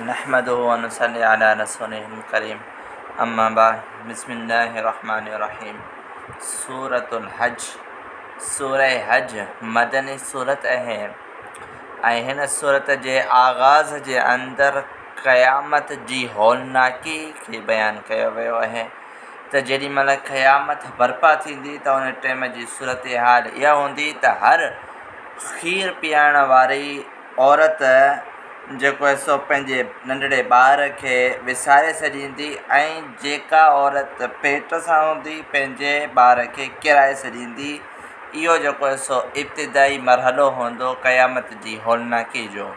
نحمده ونصلي علي رسوله الڪريم اما بعد بسم الله الرحمٰن الرحيم سورة الحج سورة حج مدني سورت اهي ۽ هن سورت جي آغاز جي اندر قيامت جي هولناڪي کي بيان ڪيو ويو اهي ته جيڏي مهل قيامت برپا ٿيندي ته ان ٽيم جي صورتحال اها هوندي ته هر کير پيارڻ واري عورت جيڪو آهي سو پنهنجي ننڍڙي ٻار کي وساري سڄيندي ۽ جيڪا عورت پيٽ سان هوندي پنهنجي ٻار کي ڪيرائي سڄيندي اهو جيڪو آهي سو ابتدائي مرحلو هوندو قيامت جي هولناڪي جو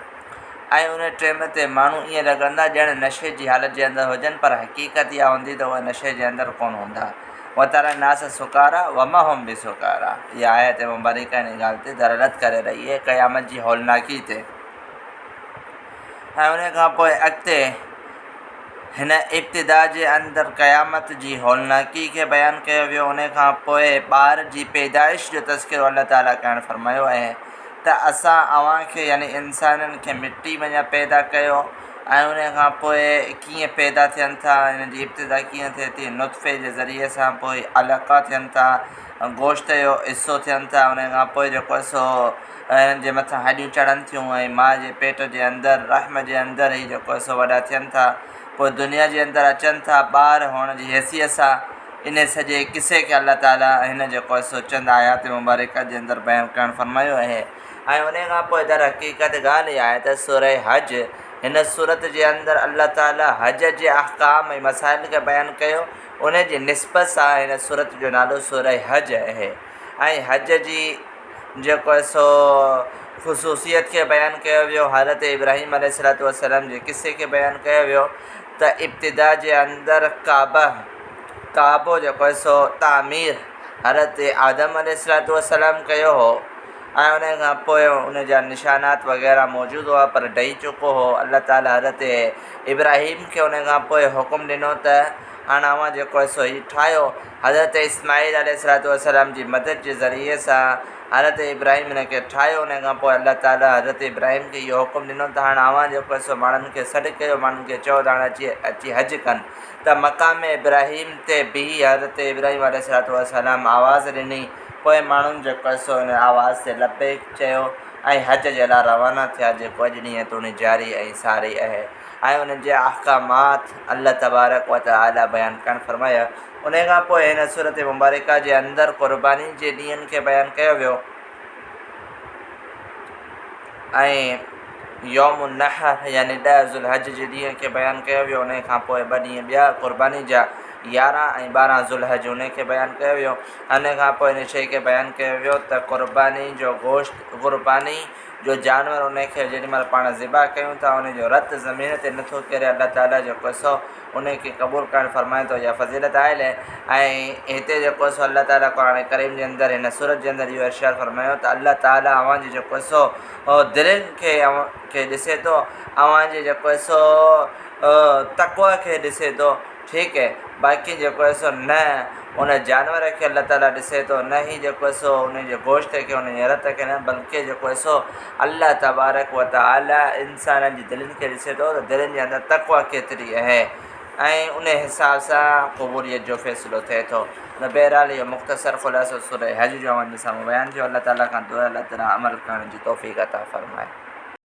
۽ ان ٽيم تي ماڻهو ائين لڳندا ڄڻ نشي جي حالت جي اندر هجن پر حقيقت اها هوندي ته اهي نشي جي اندر ڪونه هوندا وتري الناس سڪارا وما هم بسکارا اها آيت مبارڪه ان ڳالهه تي دلالت ڪري رهي آهي قيامت جي هولناڪي تي ۽ ان کان پوء اڳتي هن ابتدا جي اندر قيامت جي هولناڪي کي بيان ڪيو ويو ان کان پوء ٻار جي پيدائش جو تذڪرو الله تعالٰي ڪرڻ فرمايو ۽ ته اسان اوهان کي يعني انسانن کي مٽي مان يا پيدا ڪيو ۽ ان کان پوء ڪيئن پيدا ٿين ٿا ان جي ابتدا ڪيئن ٿئي ٿي نطفي جي ذريعي سان پوء علقا ٿين ٿا گوشت جو حصو ٿين ٿا ان کان پوء جيڪو آهي سو انهن جي مٿان هڏيون چڙهن ٿيون ۽ ماء جي پيٽ جي اندر رحم جي اندر هي جيڪو آهي سو وڏا ٿين ٿا پوء دنيا جي اندر اچن ٿا ٻار هئڻ جي حيثيت سان ان سڄي قصي کي الله تعاليٰ ۽ هن جي قصو چند آيات مبارڪات جي اندر بيان ڪرڻ فرمايو اهي ۽ انهي کان پوء درحقيقت ڳالهه اها آهي ته سوره حج هن سورت جي اندر الله تعاليٰ حج جي احڪام ۽ مسائل کي بيان ڪيو ان جي نسبت سان هن سورت جو نالو سوره حج اهي ۽ حج جي جيڪو سو خصوصيت کي بيان ڪيو ويو حضرت ابراهيم عليه السلام جي قصي کي بيان ڪيو ويو ته ابتدا جي اندر ڪعبه، ڪعبو جيڪو آهي سو تعمير حضرت آدم عليه الصلوة والسلام ڪيو هو ۽ ان کان پوء ان جا نشانات وغيره موجود هئا پر ڊهي چڪو هو الله تعاليٰ حضرت ابراهيم کي ان کان پوء حڪم ڏنو ته هاڻ اوهان جيڪو آهي سو هي ٺاهيو حضرت اسماعيل عليه الصلوة والسلام جي مدد جي ذريعي سان حضرت ابراهيم هن کي ٺاهيو، انهيء کان پوء الله تعاليٰ حضرت ابراهيم کي اهو حڪم ڏنو ته هاڻ اوهان جيڪو آهي سو ماڻهن کي سڏ ڪيو، ماڻهن کي چئو ته هاڻ اچي اچي حج ڪن. ته مقام ابراهيم تي بيهي حضرت ابراهيم عليه الصلوة والسلام آواز ڏني، پوء ماڻهن جيڪو آهي سو ان آواز تي لبيڪ چيو ۽ حج جي لاء روانا ٿيا، جيڪو اڄ ڏينهن توڻي جاري ۽ ساري اهي ۽ ان جا احڪامات الله تبارڪ وتعاليٰ بيان ڪرڻ فرمايا. انهيء کان پوء هن سورة مبارڪه جي اندر قربانين جي ڏينهن کي بيان ڪيو ويو ۽ يوم النحر يعني ڏهه ذوالحج جي ڏينهن کي بيان ڪيو ويو، انهيء کان پوء ٻه ڏينهن ٻيا قرباني جا يارهن ۽ ٻارهن ذوالحج انهيء کي بيان ڪيو ويو. انهيء کان پوء ان شيء کي بيان ڪيو ويو ته قرباني جو گوشت، قرباني جو جانور انهيء کي جيڏي مهل پاڻ ذبح ڪيون ٿا انهيء جو رت زمين تي نٿو ڪري الله تعاليٰ جو قصو، انهي کي قبول ڪرڻ فرمائي ٿو اها فضيلت آهي لي ۽ هتي جيڪو سو الله تعالي قرآن ڪريم جي اندر هن سورت جي اندر اهو ارشاد فرمايو ته الله تعالي اوهان جي جيڪو سو هو دلين کي اوهان کي ڏسي ٿو اوهان جي جيڪو سو تقويٰ کي ڏسي ٿو ٺيڪ هي باقي جيڪو هي سو نه ان جانور کي الله تعالي ڏسي ٿو نه هي جيڪو سو انهي جي گوشت کي انهي جي رت کي نه بلڪه جيڪو سو الله تبارڪ و تعالي انسانن جي دلين کي ڏسي ٿو ته دلين جي اندر تقويٰ ڪيتري اهي ۽ ان حساب سان قبوليت جو فيصلو ٿئي ٿو. ته بهرحال اهو مختصر خلاصو سوره حج جو اوهان جي سامهون بيان ٿيو. الله تعالي کان دعا آهي الله تعالي عمل ڪرڻ جي توفيق عطا فرمائي.